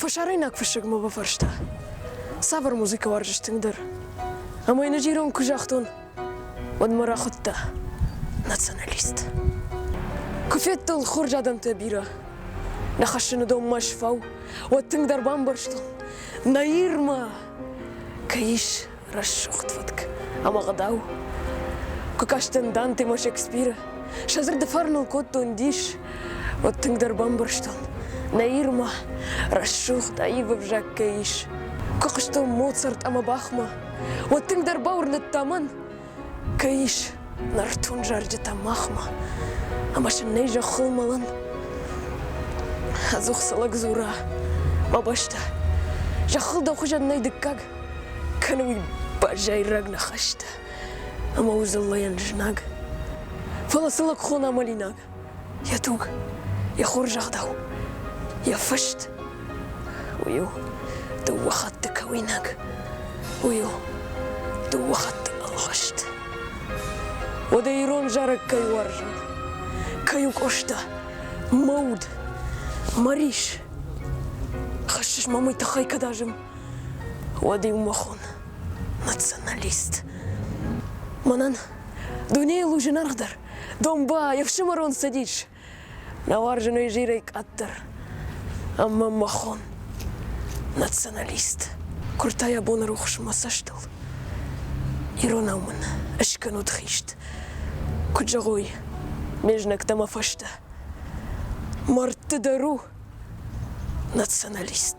Фӕсарӕйнаг фыссӕг мӕ бафарста, цавӕр музыкӕ уарзыс тынгдӕр? Ӕмӕ йын ӕджи ирон куы загътон, уӕд мӕ рахуыдта националист. Куы федтон хорз адӕмтӕ бирӕ, нӕ хӕссыны донмӕ сфау, уӕд тынгдӕр бамбӕрстон, нӕ Ирмӕ кӕй ис рӕсугъд фӕтк ӕмӕ гъдау. Куы кастӕн Дантемӕ Шекспиры, сӕ дзырды фарныл кодтон дис, уӕд тынгдӕр бамбӕрстон, нӕ Ирмӕ рӕсугъд аив ӕвзаг кӕй ис. Куы хъуыстон Моцарт ӕмӕ Бахмӕ, уӕд тынгдӕр бауырныдта мӕн, Кӕй ис нӕртон зарджытӕ махмӕ, ӕмӕ сын нӕй зӕххыл мӕлын? Ӕдзух цы лӕг дзура, мӕ бӕстӕ, зӕххыл дӕ хуызӕн нӕй дыккаг, кӕны уый базайраг ныхӕстӕ ӕмӕ у дзыллӕйӕн знаг. Фӕлӕ цы лӕгхон амӕлинаг? Йӕ туг, йӕ хорзӕгъдау, йӕ фыст, уый у дыууӕ хатты кӕуинаг, уый у дыууӕ хатты ӕлгъыст. Уӕдӕ ирон зарӕг кӕй уарзы, кӕй у Къоста, мӕ уд, мӕ рис. Хӕссыс ма мый тыххӕй, кӕд азым, уӕд-иу мӕ хон, националист. Мӕнӕн дунейыл у зынаргъдӕр, Домба, еф сымӕрон цӕдис. Нӕ уарзыной зирӕй къаддӕр. Ӕмӕ махон. Националист. Куырта йӕ боны рухс мӕ цӕстыл. Иронау мын ыскӕнут хист. Куыд зӕгъой, ме знӕгтӕ мӕ фӕстӕ. Мӕрдты дӕр у националист.